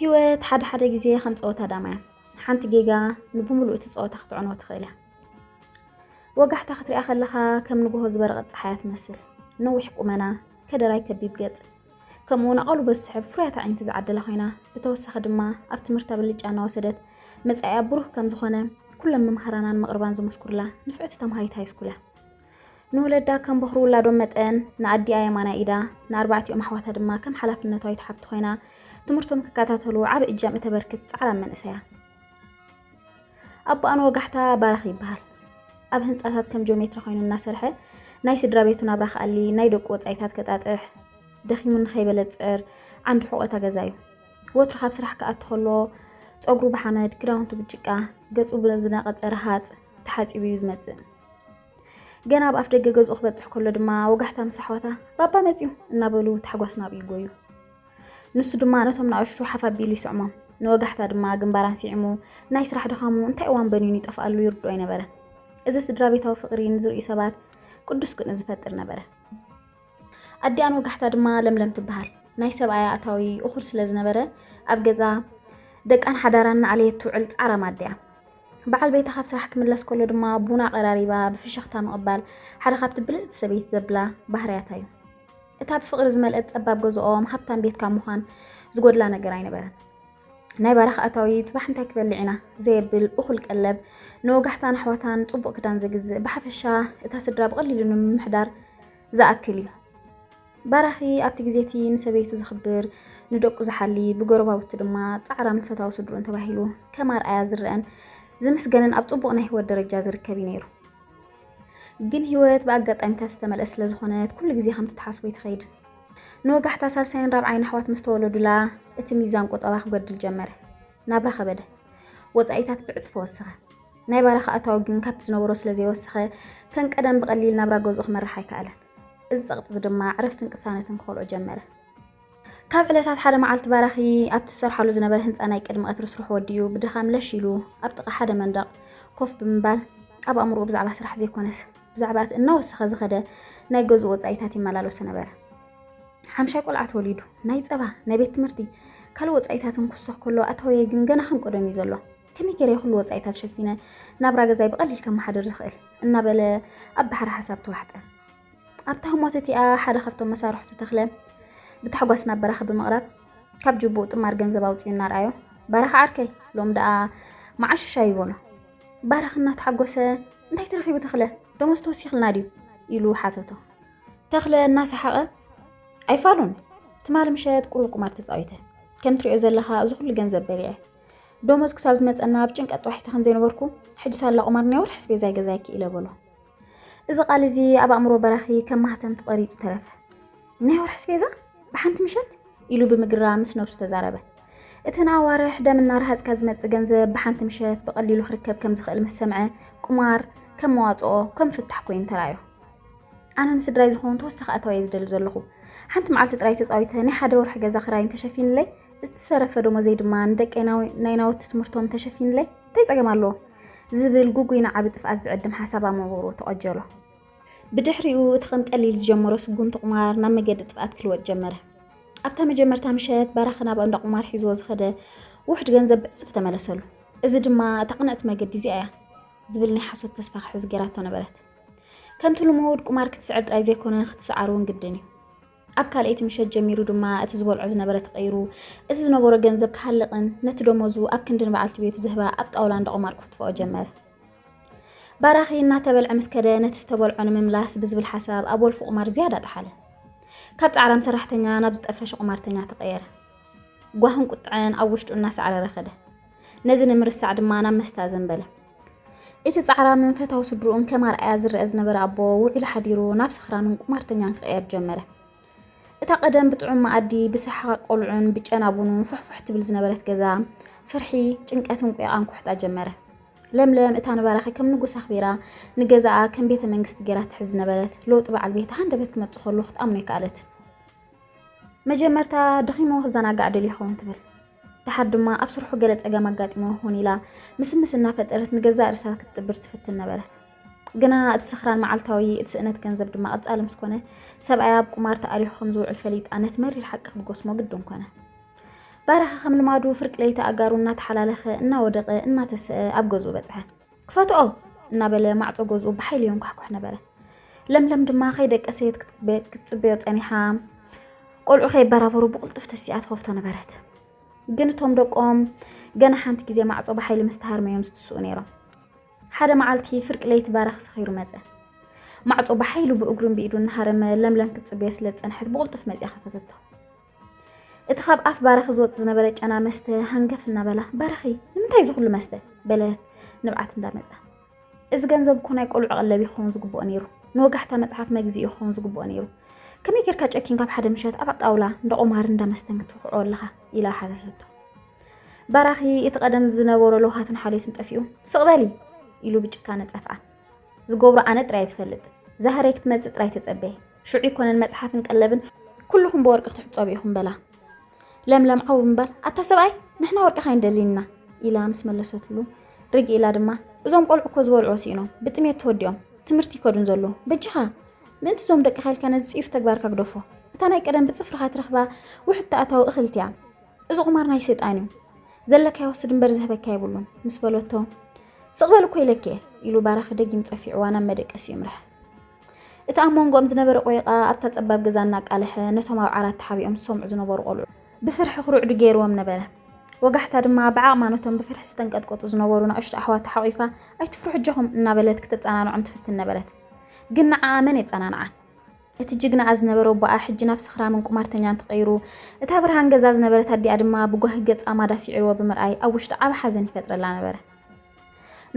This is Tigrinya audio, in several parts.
ሂወት ሓደ ሓደ ግዜ ከም ፀወታ ዳማ እያ። ሓንቲ ጌጋ ንብምሉእ እቲ ፀወታ ክትዕንዎ ትኽእል እያ። ወጋሕታ ክትሪኣ ከለኻ ከም ንግሆ ዝበረቐት ፀሓይ እያ ትመስል። ነዊሕ ቁመና፣ ከደራይ ከቢብ ገፅ፣ ከምኡ'ውን ኣቓልቦ ዝስሕብ ፍሩያት ኣዒንቲ ዝዓደላ ኮይና፣ ብተወሳኺ ድማ ኣብ ትምህርታ ብልጫ እናወሰደት መጻኢኣ ብሩህ ከም ዝኾነ ኩሎም መምሃራናን መቕርባን ዝምስኩርላ ንፍዕቲ ተምሃሪት ሃይስኩል እያ። ንወለዳ ከም በኹሪ ውላዶም መጠን ንኣዲኣ የማናይ ኢዳ፣ ንኣርባዕቲኦም ኣሕዋታ ድማ ከም ሓላፍነቷ ይትሓብቲ ኮይና ትምህርቶም ክከታተሉ ዓቢ እጃም እተበርክት ጻዕራም መንእሰይ እያ። ኣቦኣን ወጋሕታ ባራኽ ይበሃል። ኣብ ህንፃታት ከም ጆሜትራ ኮይኑ እናሰርሐ ናይ ስድራ ቤቱ ናብራ ክኣሊ፣ ናይ ደቁ ወፃኢታት ከጣጥሕ፣ ደኺሙ ንኸይበለ ዝፅዕር ዓንዲ ሕቖታ ገዛ እዩ። ወትሩ ካብ ስራሕ ክኣቱ ከሎ ፀጉሩ ብሓመድ፣ ክዳውንቱ ብጭቃ፣ ገፁ ብዝነቐፀ ረሃፅ ተሓፂቡ እዩ ዝመፅእ። ገና ኣብ ኣፍ ደገ ገዝኡ ክበፅሕ ከሎ ድማ ወጋሕታ ምስ ኣሕዋታ ባባ መፅዩ እናበሉ ታሕጓስ ናብኡ ይጎዩ። ንሱ ድማ ነቶም ንኣሽቱ ሓፍ ኣቢሉ ይስዕሞም። ንወጋሕታ ድማ ግንባራን ስዒሙ ናይ ስራሕ ድኻሙ እንታይ እዋን በኒኑ ይጠፍኣሉ ይርድኦ ኣይነበረን። እዚ ስድራቤታዊ ፍቕሪ ንዝርእዩ ሰባት ቅዱስ ቅንኢ ዝፈጥር ነበረ። ኣዲኣን ወጋሕታ ድማ ለምለም ትበሃል። ናይ ሰብኣያ ኣታዊ እኹል ስለ ዝነበረ ኣብ ገዛ ደቃን ሓዳራን ንኣለየት ትውዕል ጻዕራም ኣዲያ። በዓል ቤታ ካብ ስራሕ ክምለስ ከሎ ድማ ቡና ቀራሪባ ብፍሽኽታ ምቕባል ሓደ ካብቲ ብልጽቲ ሰበይቲ ዘብላ ባህርያታ እዩ። እታ ብፍቕሪ ዝመልእት ጸባብ ገዝኦም ሃብታም ቤት ካብ ምዃን ዝጎድላ ነገር ኣይነበረን። ናይ በረኻ ኣታዊ ጽባሕ እንታይ ክበልዕ ኢና ዘየብል እኹል ቀለብ፣ ንወጋሕታን ኣሕዋታን ጽቡቕ ክዳን ዘግዝእ፣ ብሓፈሻ እታ ስድራ ብቐሊሉ ንምምሕዳር ዝኣክል እዩ። ባራኺ ኣብቲ ግዜ እቲ ንሰበይቱ ዘኽብር፣ ንደቁ ዝሓሊ፣ ብጎረባብቱ ድማ ጻዕራም ፈታዊ ስድርኡን ተባሂሉ ከም ኣርኣያ ዝረኣን ዝምስገንን ኣብ ጽቡቕ ናይ ህይወት ደረጃ ዝርከብ እዩ ነይሩ። ግን ህይወት ብኣጋጣሚታት ዝተመልአት ስለ ዝኾነት ኩሉ ግዜ ከምቲ ትሓስቦ ይትኸይድ። ንወጋሕታ ሳልሳይን ራብዓይን ኣሕዋት ምስ ተወለዱላ እቲ ሚዛን ቁጠባ ክጎድል ጀመረ። ናብራ ከበደ። ወጻኢታት ብዕጽፊ ወሰኸ። ናይ ባራኺ ኣታዊ ግን ካብቲ ዝነበሮ ስለ ዘይወሰኸ ከም ቀደም ብቐሊል ናብራ ገዝኡ ክመርሕ ኣይከኣለን። እዚ ጸቕጢ እዚ ድማ ዕረፍትን ቅሳነትን ክኸልኦ ጀመረ። ካብ ዕለታት ሓደ መዓልቲ ባራኺ ኣብቲ ዝሰርሓሉ ዝነበረ ህንጻ ናይ ቅድሚ ቀትሪ ስርሑ ወዲኡ ብድኻም ለሽ ኢሉ ኣብ ጥቓ ሓደ መንደቕ ኮፍ ብምባል ኣብ ኣእምሮኡ ብዛዕባ ስራሕ ዘይኮነስ ብዛዕባ እቲ እናወሰኸ ዝኸደ ናይ ገዝኡ ወጻኢታት ይመላለሶ ነበረ። ሓምሻይ ቆልዓ ተወሊዱ፣ ናይ ጸባ፣ ናይ ቤት ትምህርቲ፣ ካልእ ወጻኢታትን ክውሰኽ ከሎ ኣታወየ ግን ገና ከም ቀደሙ እዩ ዘሎ። ከመይ ገይረ ኩሉ ወጻኢታት ሸፊነ ናብራ ገዛይ ብቐሊል ከመሓድር ዝኽእል እናበለ ኣብ ባሕሪ ሓሳብ ተዋሕጠ። ኣብታ ህሞት እቲኣ ሓደ ካብቶም መሳርሕቱ ተኽለ ብታሕጓስ ናብ በራኺ ብምቕራብ ካብ ጅቡኡ ጥማር ገንዘብ ኣውፅኡ እናርኣዮ በራኺ ዓርከይ ሎም ደኣ መዓሽሻ እዩ በሎ። በራኺ እናተሓጎሰ እንታይ ተረኺቡ ተኽለ ደሞዝ ተወሲኽልና ድዩ ኢሉ ሓተቶ። ተኽለ እናሰሓቐ ኣይፋሉን ትማሊ ምሸት ቁሩብ ቁማር ተፃዊተ ከም ትሪኦ ዘለኻ እዚ ኩሉ ገንዘብ በሊዐ ደሞዝ ክሳብ ዝመፀና ኣብ ጭንቀት ጥዋሒተ ከም ዘይነበርኩ ሕጂ ሳላ ቁማር ናይ ወርሒ ኣስቤዛይ ገዛይ ክኢለ በሎ። እዚ ቃል እዚ ኣብ ኣእምሮ በራኺ ከም ማህተም ተቐሪጹ ተረፈ። ናይ ወርሒ ስፔዛ ብሓንቲ ምሸት ኢሉ ብምግራ ምስ ነብሱ ተዛረበ። እተን ኣዋርሕ ደም እናረሃጽካ ዝመጽእ ገንዘብ ብሓንቲ ምሸት ብቐሊሉ ክርከብ ከም ዝኽእል ምስ ሰምዐ ቁማር ከም መዋጽኦ ከም ፍታሕ ኮይኑ ተራእዮ። ኣነ ንስድራይ ዝኸውን ተወሳኺ ኣታዊ እየ ዝደሊ ዘለኹ። ሓንቲ መዓልቲ ጥራይ ተጻዊተ ናይ ሓደ ወርሒ ገዛ ክራይ እንተሸፊንለይ፣ እቲ ዝተረፈ ደሞዘይ ድማ ንደቀይ ናይ ናውቲ ትምህርቶም እንተሸፊንለይ እንታይ ጸገም ኣለዎ? ዝብል ግጉይ ንዓቢ ጥፍኣት ዝዕድም ሓሳብ ኣብ መንጎሩ ተቐጀሎ። ብድሕሪኡ እቲ ከም ቀሊል ዝጀመሮ ስጉምቲ ቁማር ናብ መገዲ ጥፍኣት ክልወጥ ጀመረ። ኣብታ መጀመርታ ምሸት ባራኺ ናብ እንዳ ቁማር ሒዝዎ ዝኸደ ውሑድ ገንዘብ ብዕጽፊ ተመለሰሉ። እዚ ድማ እታ ቅንዕቲ መገዲ እዚኣ እያ ዝብል ናይ ሓሶት ተስፋ ክሕዝ ጌራቶ ነበረት። ከምቲ ልሙድ ቁማር ክትስዕር ጥራይ ዘይኮነ ክትስዓር'ውን ግድን እዩ። ኣብ ካልኣይቲ ምሸት ጀሚሩ ድማ እቲ ዝበልዖ ዝነበረ ተቐይሩ እቲ ዝነበሮ ገንዘብ ክሃልቕን ነቲ ደሞዙ ኣብ ክንዲ ንበዓልቲ ቤቱ ዝህባ ኣብ ጣውላ እንዳ ቁማር ክኹትፍኦ ጀመረ። ባራኺ እናተበልዐ ምስ ከደ ነቲ ዝተበልዖ ንምምላስ ብዝብል ሓሳብ ኣብ ወልፊ ቁማር ዝያዳ ጠሓለ። ካብ ጻዕራም ሰራሕተኛ ናብ ዝጠፈሸ ቁማርተኛ ተቐየረ። ጓህን ቁጥዐን ኣብ ውሽጡ እናሰዕረረ ከደ። ነዚ ንምርሳዕ ድማ ናብ መስተ ኣዘንበለ። እቲ ጻዕራምን ፈታዊ ስድርኡን ከም ኣርኣያ ዝረኣ ዝነበረ ኣቦ፣ ውዒሉ ሓዲሩ ናብ ሰኽራምን ቁማርተኛን ክቕየር ጀመረ። እታ ቀደም ብጥዑም መኣዲ፣ ብሰሓቕ ቆልዑን ብጨና ቡኑን ፉሕፉሕ ትብል ዝነበረት ገዛ፣ ፍርሒ፣ ጭንቀትን ቊቓን ኩሕጣ ጀመረ። ለምለም እታ ንባራኺ ከም ንጉስ ኣኽቢራ፣ ንገዛኣ ከም ቤተ መንግስቲ ገይራ ትሕዝ ዝነበረት፣ ለውጢ በዓል ቤታ ሃንደበት ክመጽእ ከሎ ክትኣምኖ ኣይከኣለትን። መጀመርታ ደኺምዎ ክዘናጋዕ ደልዩ ይኸውን ትብል። ደሓር ድማ ኣብ ስርሑ ገለ ጸገም ኣጋጢምዎ ክኹን ኢላ ምስምስ እናፈጠረት ንገዛእ ርእሳ ክትጥብር ትፍትን ነበረት። ግና እቲ ስኽራን መዓልታዊ፣ እቲ ስእነት ገንዘብ ድማ ቀጻሊ ምስ ኮነ፣ ሰብኣያ ኣብ ቁማር ተኣሪኹ ከም ዝውዕል ፈሊጣ ነቲ መሪር ሓቂ ክትጎስሞ ግድን ኮነ። ባራኺ ከም ልማዱ ፍርቂ ለይቲ ኣእጋሩ እናተሓላለኸ፣ እናወደቐ፣ እናተሰኣ ኣብ ገዝኡ በጽሐ። ክፈትኦ እናበለ ማዕፆ ገዝኡ ብሓይሊ የንኳሕኳሕ ነበረ። ለምለም ድማ ከይደቀሰየት ክትፅበዮ ፀኒሓ ቆልዑ ከይበራበሩ ብቕልጡፍ ተሲኣ ትኸፍቶ ነበረት። ግን እቶም ደቆም ገና ሓንቲ ግዜ ማዕፆ ብሓይሊ ምስ ተሃርመዮም ዝትስኡ ነይሮም። ሓደ መዓልቲ ፍርቂ ለይቲ ባራኽ ሰኺሩ መፀ። ማዕፆ ብሓይሉ ብእግሩን ብኢዱ እናሃረመ ለምለም ክትፅበዮ ስለ ዝፀንሐት ብቕልጡፍ መፅያ ከፈተቶ። እቲ ካብ ኣፍ ባራኺ ዝወፅ ዝነበረ ጨና መስተ ሃንገፍ እናበላ ባራኺ ንምንታይ እዚ ኩሉ መስተ በለት ንብዓት እንዳመፃ እዚ ገንዘብ እኮ ናይ ቆልዑ ቀለብ ይኸውን ዝግብኦ ነይሩ ንወጋሕታ መፅሓፍ መግዝኢ ይኸውን ዝግብኦ ነይሩ ከመይ ጌርካ ጨኪን ካብ ሓደ ምሸት ኣብ ጣውላ እንዳ ቆማር እንዳ መስተን ክትውክዖ ኣለኻ ኢላ ሓተተቶ ባራኺ እቲ ቀደም ዝነበሮ ለውሃትን ሓልዮትን ጠፊኡ ስቕ በሊ ኢሉ ብጭካነ ፀፍዓ ዝገብሮ ኣነ ጥራይ ዝፈልጥ ዛህረይ ክትመፅእ ጥራይ ተፀበየ ሽዑ ይኮነን መጽሓፍን ቀለብን ኩሉኹም ብወርቂ ክትሕጸቡ ኢኹም በላ። ለምለም ዓው እምበር ኣታ ሰብኣይ ንሕና ወርቅኻ ኣይንደሊን ኢና ኢላ ምስ መለሰትሉ ርግ ኢላ ድማ እዞም ቆልዑ እኮ ዝበልዑዎ ስኢኖም ብጥሜት ተወዲኦም ትምህርቲ ይከዱን ዘለዉ በጃኻ ምእንቲ እዞም ደቅኻ ኢልካ ነዚ ጽዩፍ ተግባርካ ግደፎ እታ ናይ ቀደም ብጽፍርኻ ትረኽባ ውሕድ ተኣታዊ እኽልቲ እያ እዚ ቁማር ናይ ሰይጣን እዩ ዘለካ ይወስድ እምበር ዝህበካ የብሉን ምስ በለቶ ስቕበል እኮ ኢለኪ እየ ኢሉ ባራኺ ደጊም ጸፊዕዋ ናብ መደቀሲ ይምራሕ እቲ ኣብ መንጎኦም ዝነበረ ቆይቓ ኣብታ ጸባብ ገዛ እናቃለሐ ነቶም ኣብ ዓራት ተሓቢኦም ዝሰምዑ ዝነበሩ ቆልዑ ብፍርሒ ክሩዕዱ ገይርዎም ነበረ። ወጋሕታ ድማ ብዓቕማ ነቶም ብፍርሒ ዝተንቀጥቀጡ ዝነበሩ ናእሽቱ ኣሕዋታ ሓቝፋ ኣይትፍርሑ ኣጆኹም እናበለት ክተጸናንዖም ትፍትን ነበረት። ግን ንዓኣ መን የጸናንዓ? እቲ ጅግናኣ ዝነበረ ኣቦኣ ሕጂ ናብ ሰኽራምን ቁማርተኛን ተቐይሩ፣ እታ ብርሃን ገዛ ዝነበረት ኣዲኣ ድማ ብጓሂ ገጻ ማዳ ስዒርዎ ብምርኣይ ኣብ ውሽጣ ዓቢ ሓዘን ይፈጥረላ ነበረ።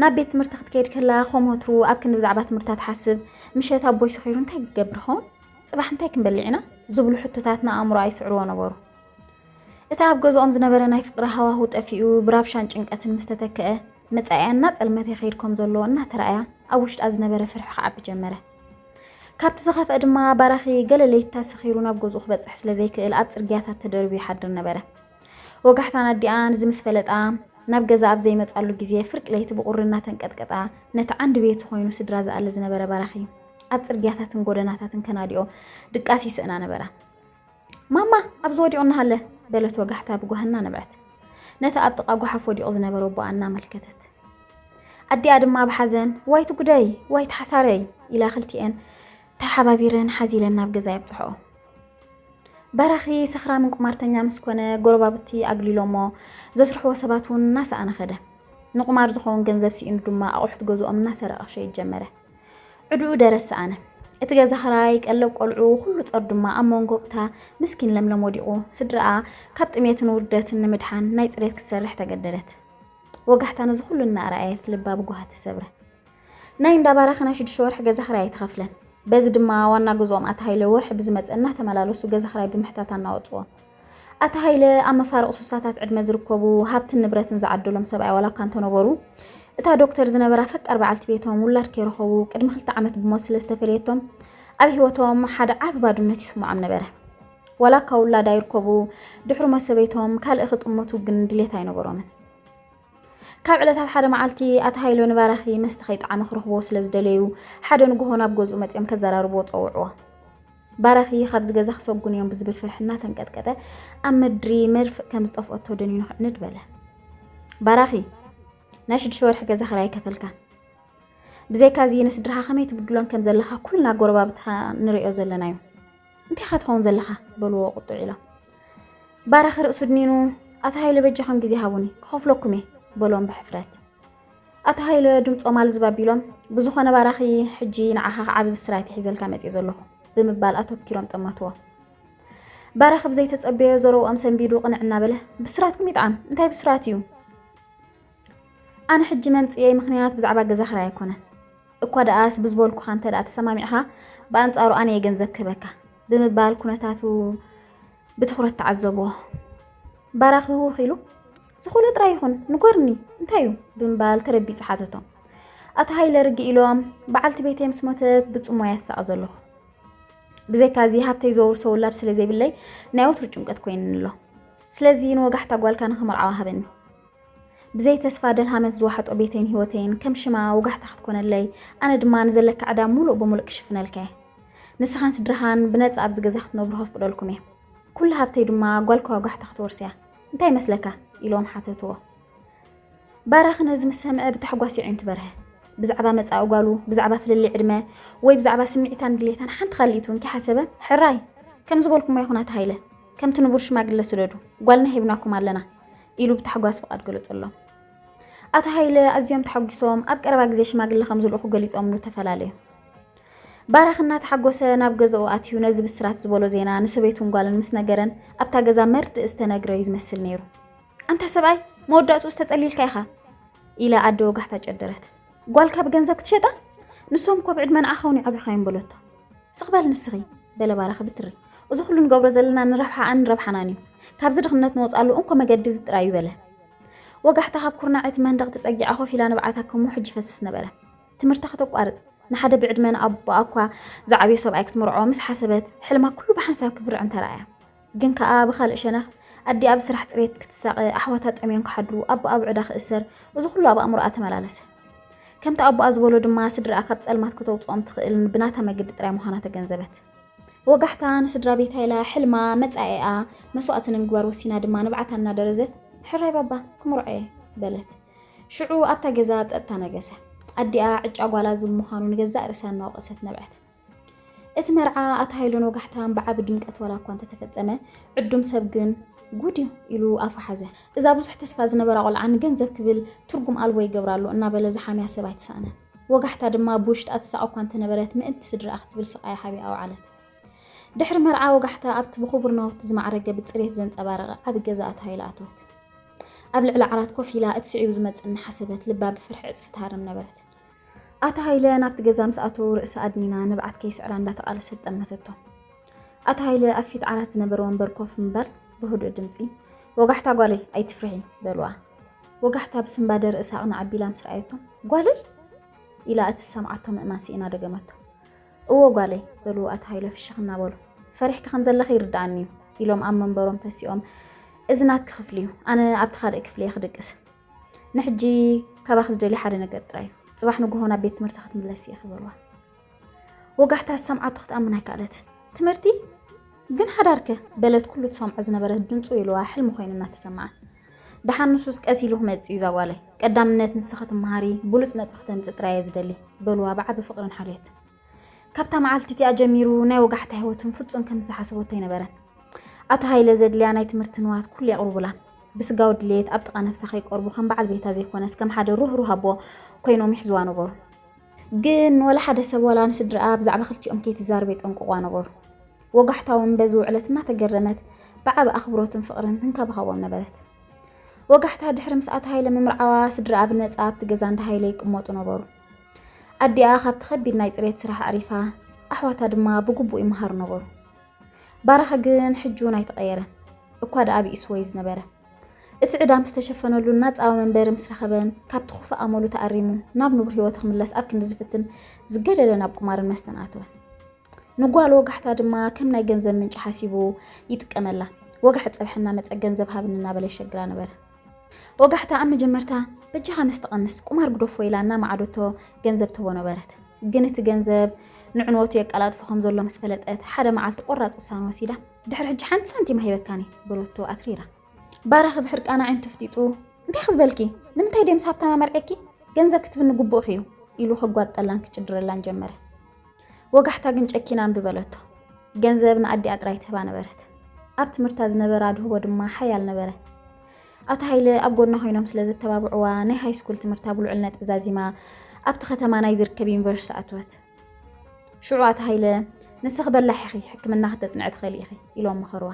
ናብ ቤት ትምህርቲ ክትከይድ ከላ ከም ወትሩ ኣብ ክንዲ ብዛዕባ ትምህርታ ትሓስብ ምሸት ኣቦይ ሰኺሩ እንታይ ክገብር ኸውን ፅባሕ እንታይ ክንበልዕ ኢና ዝብሉ ሕቶታት ንኣእምሮ ኣይስዕርዎ ነበሩ እቲ ኣብ ገዝኦም ዝነበረ ናይ ፍቅሪ ሃዋሁ ጠፊኡ ብራብሻን ጭንቀትን ምስ ተተክአ መፃኢያ እናፀልመተ ይኸይድ ከም ዘሎ እናተረኣያ ኣብ ውሽጣ ዝነበረ ፍርሒ ክዓቢ ጀመረ ካብቲ ዝኸፍአ ድማ ባራኺ ገለ ለይታ ሰኺሩ ናብ ገዝኡ ክበፅሕ ስለ ዘይክእል ኣብ ፅርግያታት ተደርብዩ ይሓድር ነበረ ወጋሕታን ኣዲኣ ንዚ ምስ ፈለጣ፣ ናብ ገዛ ኣብ ዘይመጻሉ ግዜ፣ ፍርቂ ለይቲ ብቑሪ እናተንቀጥቀጣ፣ ነቲ ዓንዲ ቤቱ ኮይኑ ስድራ ዝኣሊ ዝነበረ ባራኺ፣ ኣብ ጽርግያታትን ጎደናታትን ከናድኦ ድቃስ ይስእና ነበራ። ማማ! ኣብዚ ወዲቑ እናሃለ! በለት ወጋሕታ ብጓሂ እናነብዐት። ነቲ ኣብ ጥቓ ጓሓፍ ወዲቑ ዝነበረ ኣቦኣ እናመልከተት። ኣዲኣ ድማ ብሓዘን ዋይቲ ጉደይ! ዋይቲ ሓሳረይ! ኢላ ክልቲኤን ተሓባቢረን ሓዚለን ናብ ገዛ የብጽሕኦ። በራኺ ሰኽራምን ቁማርተኛ ምስ ኮነ ጎረባብቲ ኣግሊሎሞ ዘስርሕዎ ሰባት እውን እናሰኣነ ከደ። ንቁማር ዝኸውን ገንዘብ ስኢኑ ድማ ኣቑሑት ገዝኦም እናሰረቐ ክሸይድ ጀመረ። ዕድኡ ደረት ሰኣነ። እቲ ገዛ ክራይ፣ ቀለብ ቆልዑ፣ ኩሉ ጸር ድማ ኣብ መንጎ'ታ ምስኪን ለምለም ወዲቑ። ስድራኣ ካብ ጥሜትን ውርደትን ንምድሓን ናይ ጽሬት ክትሰርሕ ተገደደት። ወጋሕታ ነዚ ኩሉ እናኣርኣየት ልባ ብጓሂ ተሰብረ። ናይ እንዳ ባራኺ ናይ ሽዱሽተ ወርሒ ገዛ ክራይ ኣይተኸፍለን። በዚ ድማ ዋና ገዝኦም ኣቶ ሃይለ ወርሒ ብዝመፀ እናተመላለሱ ገዛ ክራይ ብምሕታት ኣናወፅዎም። ኣቶ ሃይለ ኣብ መፋርቕ ሱሳታት ዕድመ ዝርከቡ ሃብትን ንብረትን ዝዓደሎም ሰብኣይ ዋላ እኳ እንተነበሩ እታ ዶክተር ዝነበራ ፈቃር በዓልቲ ቤቶም ውላድ ከይረኸቡ ቅድሚ ክልተ ዓመት ብሞት ስለ ዝተፈለየቶም ኣብ ህይወቶም ሓደ ዓቢ ባዶነት ይስምዖም ነበረ። ዋላ እኳ ውላድ ኣይርከቡ ድሕሪ ሞት ሰበይቶም ካልእ ክጥምቱ ግን ድሌት ኣይነበሮምን። ካብ ዕለታት ሓደ መዓልቲ ኣቲ ሃይሎ ንባራኺ መስተ ከይጠዓመ ክረኽቦ ስለ ዝደለዩ ሓደ ንግሆ ናብ ገዝኡ መፂኦም ከዘራርብዎ ፀውዕዎ ባራኺ ካብዚ ገዛ ክሰጉን እዮም ብዝብል ፍርሒ እናተንቀጥቀጠ ኣብ ምድሪ መርፍእ ከም ዝጠፍኦቶ ደኒኑ ክዕንድ በለ ባራኺ ናይ ሽዱሽተ ወርሒ ገዛ ክራይ ከፈልካን ብዘይካዚ ንስድራኻ ከመይ ትብድሎን ከም ዘለኻ ኩልና ጎረባብትኻ ንሪኦ ዘለና እዩ እንታይ ኢኻ ትኸውን ዘለኻ በልዎ ቁጡዕ ኢሎም ባራኺ ርእሱ ድኒኑ ኣቶ ሃይለ በጃኹም ግዜ ሃቡኒ ክኸፍለኩም እየ በሎም ብሕፍረት ኣቶ ሃይለ ድምፆም ኣልዝብ ኣቢሎም ብዝኾነ ባራኺ ሕጂ ንዓኻ ክዓቢ ብስራት ሒዘልካ መፅእ ዘለኹ ብምባል ኣተኪሮም ጠመትዎ። ባራኺ ብዘይተፀበዮ ዘረብኦም ሰንቢዱ ቅንዕ እናበለ ብስራትኩም ይጥዓም እንታይ ብስራት እዩ ኣነ ሕጂ መምጽኤ ምኽንያት ብዛዕባ ገዛ ክራይ ኣይኮነን እኳ ደኣስ ብዝበልኩኻ እንተ ደኣ ተሰማሚዕኻ ብኣንጻሩ ኣነ እየ ገንዘብ ክህበካ ብምባል ኩነታቱ ብትኹረት ተዓዘብዎ። ባራኺ ህውኽ ኢሉ ዝኾነ ጥራይ ይኹን ንጎርኒ እንታይ እዩ ብምባል ተረቢጹ ሓተቶ። ኣቶ ሃይለ ርግ ኢሎም በዓልቲ ቤተይ ምስ ሞተት ብጽሞያ ይሳቐ ዘለኹ ብዘይካ እዚ ሃብተይ ዘውርሶ ውላድ ስለ ዘይብለይ ናይ ወትሩ ጭንቀት ኮይንኒ ኣሎ ስለዚ ንወጋሕታ ጓልካ ንኽመርዓዋ ሃበኒ ብዘይ ተስፋ ደልሃመት ዝዋሕጦ ቤተይን ህይወተይን ከም ሽማ ወጋሕታ ክትኮነለይ ኣነ ድማ ንዘለኪ ዕዳ ሙሉእ ብሙሉእ ክሽፍነልኪ'የ። ንስኻን ስድራኻን ብነጻ ኣብዚ ገዛ ክትነብሩ ከፍቅደልኩም'የ። ኩሉ ሃብተይ ድማ ጓልካ ወጋሕታ ክትወርስ'ያ። እንታይ ይመስለካ? ኢሎም ሓተትዎ። ባራኺ ነዚ ምስ ሰምዐ ብታሕጓስ የዒንቱ በርሀ። ብዛዕባ መጻኢ ጓሉ፣ ብዛዕባ ፍልልይ ዕድመ ወይ ብዛዕባ ስምዒታን ድሌታን ሓንቲ ካልኢት እውን ከይሓሰበ ሕራይ! ከም ዝበልኩሞ ይኹን ኣቶ ሃይለ፣ ከምቲ ንቡር ሽማግለ ስደዱ፣ ጓልና ሂብናኩም ኣለና። ኢሉ ብታሕጓስ ፍቓድ ገለጸሎም። ኣቶ ሃይለ ኣዝዮም ተሓጒሶም ኣብ ቀረባ ግዜ ሽማግለ ከም ዝልእኹ ገሊጾምሉ ተፈላለዩ። ባራኽ እናተሓጎሰ ናብ ገዛኡ ኣትዩ ነዚ ብስራት ዝበሎ ዜና ንሰበይቱን ጓልን ምስ ነገረን ኣብታ ገዛ መርድእ ዝተነግረ እዩ ዝመስል ነይሩ። ኣንታ ሰብኣይ መወዳእትኡ ዝተጸሊልካ ኢኻ ኢላ ኣደ ወጋሕታ ጨደረት። ጓልካ ብገንዘብ ክትሸጣ? ንሶም እኮ ብዕድመ ንዓኻ እውን ይዓብዩኻ እዮም በለቶ። ስቕ በል ንስኺ በለ ባራኺ ብትሪ እዚ ኩሉ ንገብሮ ዘለና ንረብሓኣን ንረብሓናን እዩ ካብዚ ድኽነት ንወፅኣሉ እንኮ መገዲ እዚ ጥራይ እዩ በለ ወጋሕታ ካብ ኩርናዕ እቲ መንደቕ ተፀጊዓ ኮፍ ኢላ ንብዓታ ከም ውሕጅ ይፈስስ ነበረ ትምህርታ ከተቋርፅ ንሓደ ብዕድመ ንኣቦኣ እኳ ዝዓብዮ ሰብኣይ ክትምርዖ ምስ ሓሰበት ሕልማ ኩሉ ብሓንሳብ ክብርዕን ተረኣያ ግን ከኣ ብኻልእ ሸነኽ ኣዲኣ ብስራሕ ጽሬት ክትሳቐ፣ ኣሕዋታ ጠምዮም ክሓድሩ፣ ኣቦኣ ብዕዳ ክእሰር፣ እዚ ኩሉ ኣብ ኣእምሮኣ ተመላለሰ። ከምቲ ኣቦኣ ዝበሎ ድማ ስድራኣ ካብ ጸልማት ከተውጽኦም ትኽእል ብናታ መገዲ ጥራይ ምዃና ተገንዘበት። ብወጋሕታ ንስድራ ቤታ ኢላ ሕልማ፣ መጻኢኣ፣ መስዋእቲ ንምግባር ወሲና ድማ ንብዓታ እናደረዘት ሕራይ ባባ ክምርዖ'የ በለት። ሽዑ ኣብታ ገዛ ጸጥታ ነገሰ። ኣዲኣ ዕጫ ጓላ ዝም ምዃኑ ንገዛእ ርእሳ እናወቐሰት ነብዐት። እቲ መርዓ ኣቶ ሃይሉን ወጋሕታን ብዓቢ ድምቀት ዋላ እኳ እንተተፈጸመ፣ ዕዱም ሰብ ግን ጉድ እዩ ኢሉ ኣፉ ሓዘ። እዛ ብዙሕ ተስፋ ዝነበራ ቆልዓ ንገንዘብ ክብል ትርጉም ኣልቦ ይገብራ ኣሎ እናበለ ዝሓምያ ሰብ ኣይተሳእነን። ወጋሕታ ድማ ብውሽጣ ትሳቐ እኳ እንተነበረት ምእንቲ ስድርኣ ክትብል ስቓያ ሓቢኣ ኣውዓለት። ድሕሪ መርዓ ወጋሕታ ኣብቲ ብኽቡር ናውቲ ዝማዕረገ ብጽሬት ዘንጸባረቐ ዓቢ ገዛ ኣቶ ሃይለ ኣተወት። ኣብ ልዕሊ ዓራት ኮፍ ኢላ እቲ ስዒቡ ዝመጽእ እናሓሰበት ልባ ብፍርሒ ዕጽፊ ትሃርም ነበረት። ኣቲ ሃይለ ናብቲ ገዛ ምስ ኣተዉ ርእሲ ኣድኒና ንብዓት ከይስዕራ እንዳተቓለሰት ጠመተቶ። ኣቲ ሃይለ ኣብ ፊት ዓራት ዝነበረ ወንበር ኮፍ ምባል ብህዱእ ድምጺ ወጋሕታ ጓለይ ኣይትፍርሒ በልዋ። ወጋሕታ ብስንባደ ርእሳ ኣቕና ኣቢላ ምስ ረኣየቶ ጓለይ ኢላ እቲ ዝሰምዓቶ ምእማን ስኢና ደገመቶ። እዎ ጓለይ በሉ ኣቲ ሃይለ ፍሽኽ እናበሉ። ፈሪሕኪ ከም ዘለኺ ይርድኣኒ እዩ ኢሎም ኣብ መንበሮም ተሲኦም እዚ ናትኪ ክፍሊ እዩ ኣነ ኣብቲ ካልእ ክፍሊ እየ ክድቅስ ንሕጂ ካባኺ ዝደልዮ ሓደ ነገር ጥራይ እዩ፣ ጽባሕ ንግሆ ናብ ቤት ትምህርቲ ክትምለሲ ኢኺ በልዋ። ወጋሕታ ዝሰምዓቶ ክትኣምን ኣይከኣለት። ትምህርቲ ግን ሓዳርከ በለት ኩሉ ትሰምዖ ዝነበረት ድምፁ ኢልዋ ሕልሚ ኮይኑ እናተሰምዓ። ደሓን ንሱስ ቀስ ኢሉ ክመጽእ እዩ ዛጓለይ፣ ቀዳምነት ንስኺ ትመሃሪ ብሉጽ ነጥቢ ክተምጽእ ጥራይ እየ ዝደሊ በልዋ ብዓቢ ፍቕርን ሓልዮትን። ካብታ መዓልቲ እቲኣ ጀሚሩ ናይ ወጋሕታ ህይወቱን ፍጹም ከም ዝሓሰበቶ ኣይነበረን። ኣቶ ሃይለ ዘድልያ ናይ ትምህርቲ ንዋት ኩሉ የቕርቡላን። ብስጋዊ ድሌት ኣብ ጥቓ ነፍሳ ከይቀርቡ ከም በዓል ቤታ ዘይኮነስ ከም ሓደ ሩህሩህ ኣቦ ኮይኖም ይሕዝዋ ነበሩ። ግን ወላ ሓደ ሰብ ዋላ ንስድርኣ ብዛዕባ ክልቲኦም ከይትዛረብ የጠንቅቑዋ ነበሩ። ወጋሕታ እውን በዚ ውዕለት እናተገረመት ብዓቢ ኣኽብሮትን ፍቕርን ትንከባኸቦም ነበረት። ወጋሕታ ድሕሪ ምስ ኣቶ ሃይለ ምምርዓዋ ስድርኣ ብነጻ ኣብቲ ገዛ እንዳ ሃይለ ይቅመጡ ነበሩ። ኣዲኣ ካብቲ ከቢድ ናይ ፅሬት ስራሕ ኣዕሪፋ፣ ኣሕዋታ ድማ ብግቡእ ይመሃሩ ነበሩ። ባራኺ ግን ሕጂ እውን ኣይተቐየረን፣ እኳ ደኣ ብኢሱ ወይ ዝነበረ። እቲ ዕዳ ምስ ተሸፈነሉን ናጻዊ መንበሪ ምስ ረኸበን፣ ካብቲ ክፉእ ኣመሉ ተኣሪሙ ናብ ንቡር ህይወቱ ክምለስ ኣብ ክንዲ ዝፍትን፣ ዝገደደ ናብ ቁማርን መስተን ኣተወ። ንጓል ወጋሕታ ድማ ከም ናይ ገንዘብ ምንጪ ሓሲቡ ይጥቀመላ። ወጋሕ ጸብሒ እናመጸ ገንዘብ ሃብኒ እናበለ የሸግራ ነበረ። ወጋሕታ ኣብ መጀመርታ በጃኻ መስተ ቀንስ፣ ቁማር ግደፎ ኢላ እናመዓደቶ ገንዘብ ትህቦ ነበረት። ግን እቲ ገንዘብ ንዕንወቱ የቀላጥፎ ከም ዘሎ ምስ ፈለጠት ሓደ መዓልቲ ቆራጽ ውሳነ ወሲዳ ድሕሪ ሕጂ ሓንቲ ሳንቲም ኣይህበካን እየ በለቶ ኣትሪራ። ባራኺ ብሕርቃን ኣዒንቱ ፍጢጡ እንታይ ክዝበልኪ ንምንታይ ድየ ምስ ሃብታማ መርዔኪ ገንዘብ ክትብኒ ግቡእኺ እዩ ኢሉ ከጓጠላን ክጭድረላን ጀመረ። ወጋሕታ ግን ጨኪና እምቢ በለቶ። ገንዘብ ንኣዲኣ ጥራይ ትህባ ነበረት። ኣብ ትምህርታ ዝነበረ ኣድህቦ ድማ ሓያል ነበረ። ኣቶ ሃይለ ኣብ ጎና ኮይኖም ስለ ዘተባብዕዋ ናይ ሃይስኩል ትምህርታ ብልዑል ነጥቢ ዛዚማ ኣብቲ ከተማ ናይ ዝርከብ ዩኒቨርሲቲ ኣትወት። ሽዑ ኣቶ ሃይለ ንስኺ በላሕ ኢኺ፣ ሕክምና ክተጽንዕ ትኽእሊ ኢኺ ኢሎም መኸርዋ።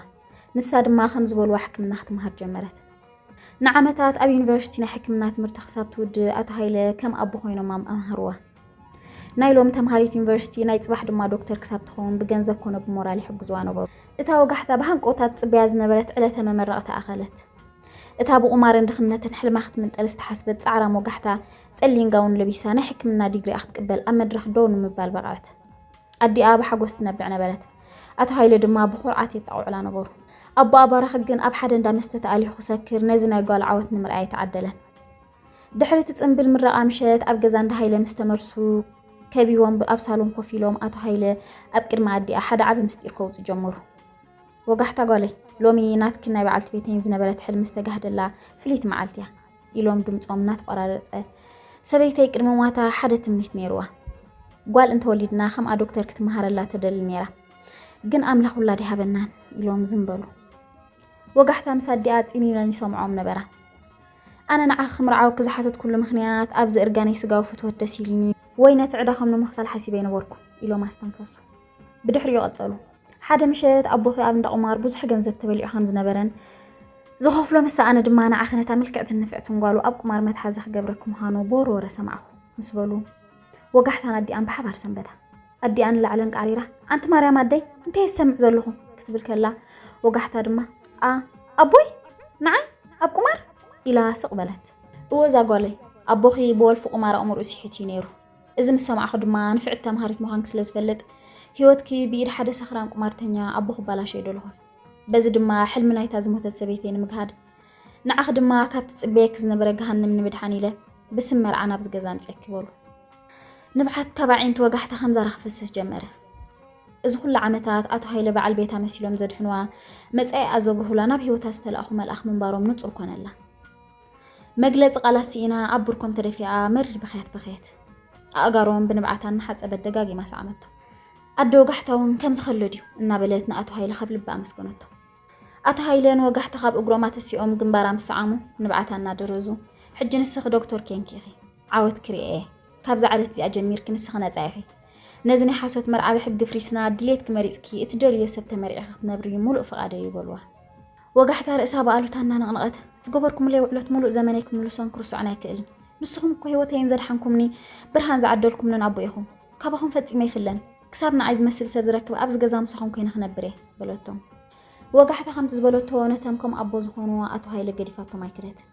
ንሳ ድማ ከም ዝበልዋ ሕክምና ክትምሃር ጀመረት። ንዓመታት ኣብ ዩኒቨርሲቲ ናይ ሕክምና ትምህርቲ ክሳብ ትውድእ ኣቶ ሃይለ ከም ኣቦ ኮይኖም ኣምሃርዋ። ናይ ሎሚ ተምሃሪት ዩኒቨርሲቲ ናይ ጽባሕ ድማ ዶክተር ክሳብ ትኸውን ብገንዘብ ኮነ ብሞራል ይሕግዙዋ ነበሩ። እታ ወጋሕታ ብሃንቀውታ ትጽበያ ዝነበረት ዕለተ መመረቕታ ኣኸለት። እታ ብቑማርን ድኽነትን ሕልማ ክትምንጠል ዝተሓስበት ጻዕራም ወጋሕታ፣ ጸሊም ጋውን ለቢሳ ናይ ሕክምና ዲግሪኣ ክትቅበል ኣብ መድረኽ ደው ንምባል በቕዐት። ኣዲኣ ብሓጎስ ትነብዕ ነበረት። ኣቶ ሃይለ ድማ ብኹርዓት የጣቕዑላ ነበሩ። ኣቦኣ ባራኺ ግን ኣብ ሓደ እንዳ መስተ ተኣሊኹ ክሰክር ነዚ ናይ ጓሉ ዓወት ንምርኣይ ኣይተዓደለን። ድሕሪ እቲ ጽምብል ምረቓ ምሸት ኣብ ገዛ እንዳ ሃይለ ምስ ተመልሱ ከቢቦም ኣብ ሳሎን ኮፍ ኢሎም ኣቶ ሃይለ ኣብ ቅድሚ ኣዲኣ ሓደ ዓቢ ምስጢር ከውጽ ጀመሩ። ወጋሕታ ጓለይ ሎሚ ናትክን ናይ በዓልቲ ቤተይን ዝነበረት ሕልሚ ዝተጋህደላ ፍልይቲ መዓልቲ እያ ኢሎም ድምፆም እናተቆራረፀ ሰበይተይ ቅድሚ ሟታ ሓደ ትምኒት ነይርዋ ጓል እንተወሊድና ከምኣ ዶክተር ክትመሃረላ ተደሊ ነይራ ግን ኣምላኽ ውላድ ይሃበናን ኢሎም ዝም በሉ ወጋሕታ ምስ ኣዲኣ ፂኒነን ይሰምዖም ነበራ ኣነ ንዓኺ ክምርዓወኪ ዝሓተትኩሉ ምኽንያት ኣብዚ እርጋነይ ስጋዊ ፍትወት ደስ ኢሉኒ ወይ ነቲ ዕዳኹም ንምኽፋል ሓሲበ ኣይነበርኩ ኢሎም ኣስተንፈሱ። ብድሕሪኡ ቀጸሉ። ሓደ ምሸት ኣቦኺ ኣብ እንዳ ቁማር ብዙሕ ገንዘብ ተበሊዑ ከም ዝነበረን ዝኸፍሎ ምስ ሰኣነ ድማ ንዓኺ ነታ ምልክዕትን ንፍዕትን ጓሉ ኣብ ቁማር መትሓዚ ክገብረኪ ምዃኑ ብወረ ወረ ሰማዕኩ ምስ በሉ ወጋሕታን ኣዲኣን ብሓባር ሰንበዳ። ኣዲኣ ንላዕሊ ኣንቃዕሪራ ኣንቲ ማርያም ኣደይ እንታይ የሰምዕ ዘለኹ ክትብል ከላ ወጋሕታ ድማ a ኣቦይ ንዓይ ኣብ ቁማር ኢላ ስቕ በለት። እወ እዛ ጓለይ ኣቦኺ ብወልፊ ቁማር ኣእምርኡ ሲሒቱ እዩ ነይሩ። እዚ ምስ ሰማዕኹ ድማ ንፍዕቲ ተምሃሪት ምዃንኪ ስለ ዝፈልጥ ህይወትኪ ብኢድ ሓደ ሰኽራን ቁማርተኛ ኣቦ ክባላሸዮ ደለኹ። በዚ ድማ ሕልሚ ናይታ ዝሞተት ሰበይተይ ንምግሃድ ንዓኺ ድማ ካብ ትጽበየኪ ዝነበረ ገሃንም ንምድሓን ኢለ ብስም መርዓ ናብዚ ገዛ ኣምጽኤኪ በሉ። ንብዓት ካብ ኣዒንቱ ወጋሕታ ከምዛራ ክፈስስ ጀመረ። እዚ ኩሉ ዓመታት ኣቶ ሃይለ በዓል ቤታ መሲሎም ዘድሕንዋ መጻኢኣ ዘብርሁላ ናብ ህይወታ ዝተላእኹ መልኣኽ ምንባሮም ንጹር ኮነላ። መግለጺ ቃላት ስኢና ኣብ ብርኮም ተደፊኣ መሪር ብኽያት በኸየት። ኣእጋሮም ብንብዓት እናሓጸበት ደጋጊማ ሰዓመቶ። ኣደ ወጋሕታውን ከምዚ ከሎ ድዩ እናበለት ንኣቶ ሃይለ ካብ ልባ ኣመስገነቶ። ኣቶ ሃይለ ንወጋሕታ ካብ እግሮም ኣተሲኦም ግንባራ ምስ ሰዓሙ ንብዓታ እናደረዙ ሕጂ ንስኺ ዶክቶር ኴንኪ ኢኺ ዓወት ክርኤ እየ ካብዛ ዕለት እዚኣ ጀሚርኪ ንስኺ ነጻ ኢኺ ነዚ ናይ ሓሶት መርዓዊ ሕጊ ፍሪስና ድሌትኪ መሪጽኪ እትደልይዮ ሰብ ተመሪዕኺ ክትነብሪ ሙሉእ ፍቓደይ እዩ በልዋ። ወጋሕታ ርእሳ ብኣሉታ እናነቕነቐት ዝገበርኩምለይ ውዕሎት ሙሉእ ዘመነይ ክምልሶን ክርስዖን ኣይክእልን ንስኹም እኮ ህይወተይን ዘድሓንኩምኒ ብርሃን ዝዓደልኩምንን ኣቦ ኢኹም ካባኹም ፈጺመ ኣይፍለን ክሳብ ንዓይ ዝመስል ሰብ ዝረክብ ኣብዚ ገዛ ምሳኹም ኮይነ ክነብር እየ በለቶም። ወጋሕታ ከምቲ ዝበለቶ ነተን ከም ኣቦ ዝኾንዋ ኣቶ ሃይለ ገዲፋቶም ኣይከደትን።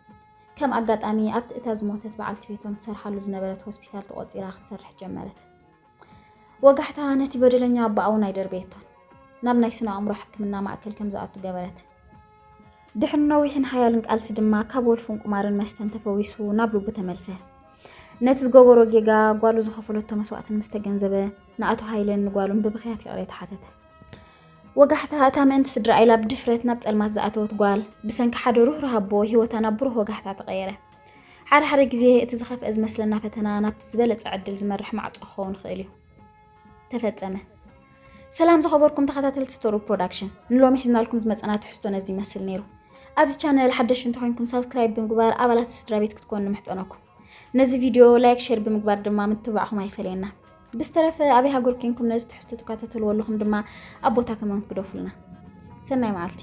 ከም ኣጋጣሚ ኣብቲ እታ ዝሞተት በዓልቲ ቤቶም ትሰርሓሉ ዝነበረት ሆስፒታል ተቖፂራ ክትሰርሕ ጀመረት። ወጋሕታ ነቲ በደለኛ ኣቦኣ እውን ኣይደርበየቶን። ናብ ናይ ስነ ኣእምሮ ሕክምና ማእከል ከም ዝኣቱ ገበረት። ድሕሪ ነዊሕን ሓያልን ቃልሲ ድማ ካብ ወልፉን ቁማርን መስተን ተፈዊሱ ናብ ልቡ ተመልሰ። ነቲ ዝገበሮ ጌጋ ጓሉ ዝኸፈለቶ መስዋእትን ምስ ተገንዘበ ንኣቶ ሃይለን ንጓሉን ብብኽያት ይቕሬታ ሓተተ። ወጋሕታ እታ ምእንቲ ስድራ ኢላ ብድፍረት ናብ ጸልማት ዝኣተወት ጓል ብሰንኪ ሓደ ሩህሩህ ኣቦ ህይወታ ናብ ብሩህ ወጋሕታ ተቐየረ። ሓደ ሓደ ግዜ እቲ ዝኸፍአ ዝመስለና ፈተና ናብቲ ዝበለጸ ዕድል ዝመርሕ ማዕጾ ክኸውን ይኽእል እዩ። ተፈጸመ። ሰላም ዝኸበርኩም ተኸታተልቲ ስቶሪ ፕሮዳክሽን፣ ንሎሚ ሒዝናልኩም ዝመጸና ትሕዝቶ ነዚ ይመስል ነይሩ። ኣብዚ ቻነል ሓደሽቲ እንተኾይንኩም ሳብስክራይብ ብምግባር ኣባላት ስድራ ቤት ክትኮኑ ንምሕጸነኩም። ነዚ ቪድዮ ላይክ፣ ሼር ብምግባር ድማ ምትብባዕኹም ኣይፈለየና። ብዝተረፈ ኣበይ ሃገር ኮንኩም ነዚ ትሕዝቶ ትከታተልዎ ኣለኹም ድማ ኣብ ቦታ ከመንት ግደፉልና። ሰናይ መዓልቲ።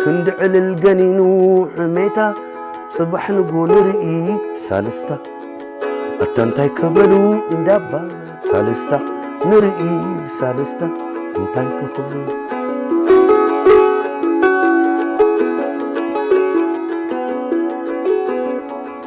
ክንዲ ዕልል ገኒኑ ሕሜታ ጽባሕ ንግሆ ንርኢ ሳልስታ ኣታ እንታይ ከበሉ እንዳባ ሳልስታ ንርኢ ሳልስታ እንታይ ክኽብሉ